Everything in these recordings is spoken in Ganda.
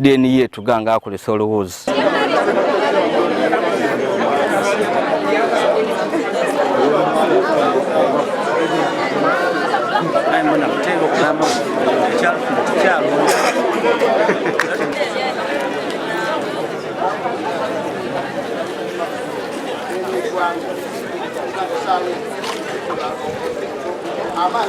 DNA yetu ganga akule solo woods. Aman.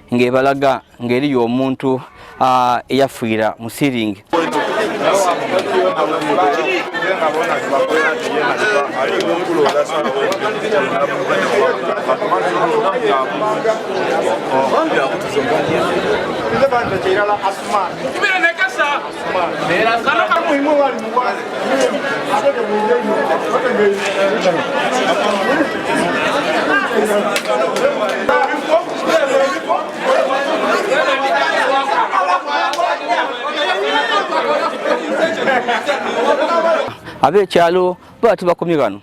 ng'ebalaga ng'eriyo omuntu eyafiira mu siringi ab'ekyalo baba tubakomye bano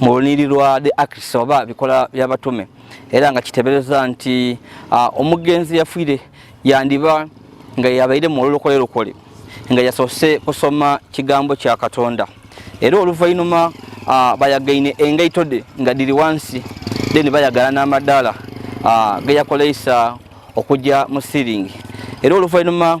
mu luniri lwa the acts oba bikola by'abatume era nga kitebereza nti ah, omugenzi yafwire yandiba nga yabaire mu olulokole lukole nga yasoose kusoma kigambo kya katonda era oluvainuma ah, bayagaine engaito de nga diri wansi then bayagala n'amadaala ah, geyakoleisa okujja mu siringi era oluvainuma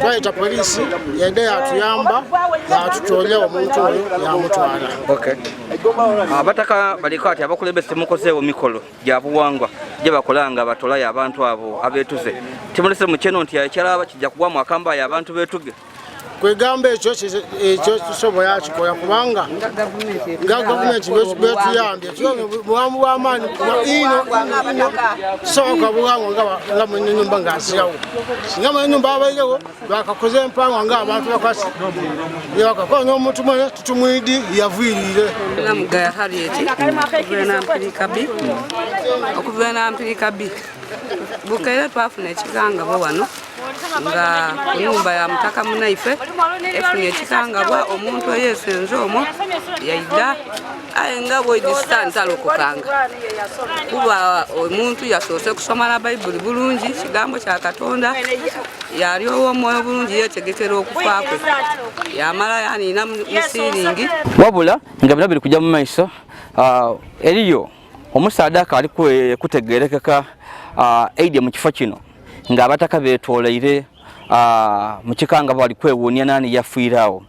twayita poliisi yadde yatuyamba yatutoonya omuntu oyo yamutwala abataka ah, baliko ati abakulembeze temukozeewo mikolo gya buwangwa gye bakola nga batolayo abantu abo abeetuze timulese mukyeno nti ekyalaba kijja kugwamu akambayo abantu beetuge kwegamba ekyo ekyo kisobola kikola kubanga nga gavumenti betuyambye Tuyobe bwamu bwa maanyi ino ino soka bwangu nga nga mu nyumba nga asiyawo nga mu nyumba abayirewo bakakoze empango nga abantu bakwasi ye bakakola n'omuntu mwene tutumwidi yaviirire namugaya harriet okubeera nampirika bi okubeera nampirika bi bukeera twafuna ekigangabo wano nga kunyumba ya mutaka munaife efunye ekigangabwa omuntu eyesenze omwo yaida aye nga bwegisa ntalokokanga kuba omuntu yasoose kusoma na bayibuli bulungi kigambo kya katonda yali owomwoyo bulungi yetegekera okufa kwe yamala yanina musiringi wabula nga bino biri kujja mu maiso ah, eriyo omusaadaka ali kutegerekeka ah, aidya mu kifo kino ng'abataka beetoleire ah, mu kika nga bali kwewuunya naani yafiirawo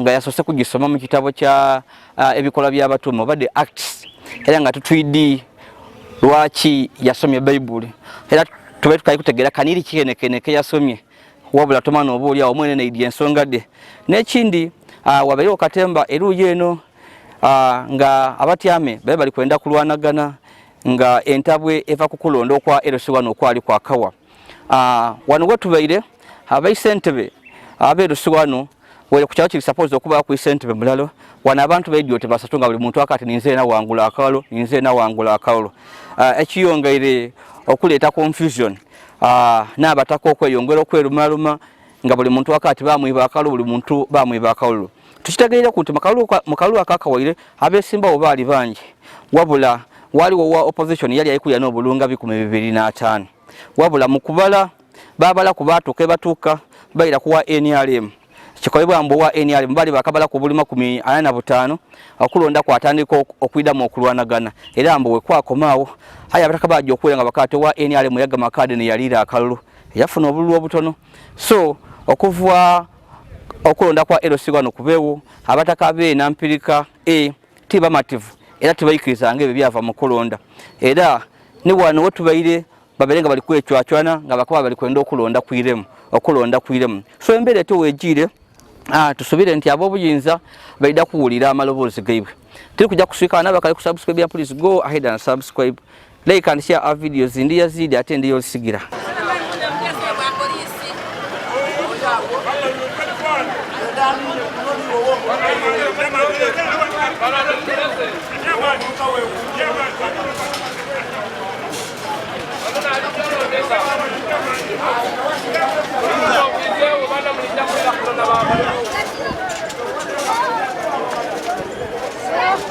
nga yasose kugisoma mu kitabo kya uh, ebikola by'abatume oba the acts era nga tutwidi lwaki yasomye bayibuli era tube tukali kutegera kaniri kikenekene ke yasomye wabula tomana oba olyawo mwene neidi ensonga de n'ekindi uh, wabeerewo okatemba eruuyi eno uh, nga abatyame babe bali kwenda kulwanagana nga entabwe eva ku kulonda okwa erosi wano okwali kwakawa Ah, wano wetubaire abaisentebe aberusi wano were ku kyalo kiri suppose okuba ku isentebe mulalo wano abantu bedio tebasatu nga buli muntu akati ninze na wangula akalo ninze na wangula akalo ah, ekiyongaire okuleeta confusion ah, n'abataka okweyongera okwerumaluma nga buli muntu akati bamwiba akalulu buli muntu bamwiba akalulu tukitegeera ku nti mu kalulu akakawaire abeesimbawo baali bangi wabula waliwo wa opposition yali ayikulira n'obulunga bikumi bibiri n'ataano wabula mu kubala babala ku baatuuka ebatuuka bayira ku wa nrm kikolebwa mbu owa nrm bali bakabala ku buli makumi ana na butaano okulonda kwatandika okwidamu okulwanagana era mbu wekwakomaawo aye abataka bajja okuwera nga bakaate owa nrm yagama kaadi neyaliira akalulu yafuna obululu obutono so okuva okulonda kwa LC wano kubeewo abataka be nampirika e ti bamativu era tibayikiriza nga ebyo byava mu kulonda era ne wano we tubaire babeere nga bali kwecwacwana nga bakuba bali kwenda okulonda kwiremu okulonda kwiremu so embeera eto wegiire ah, tusubire nti ab'obuyinza baida kuwulira amaloboozi gaibwe tiri kujja kusiikana nabakali ku subscribe ya please go ahead and subscribe Like and share our videos. Ndi Yazidi ate ndi Yosigira. Thank you.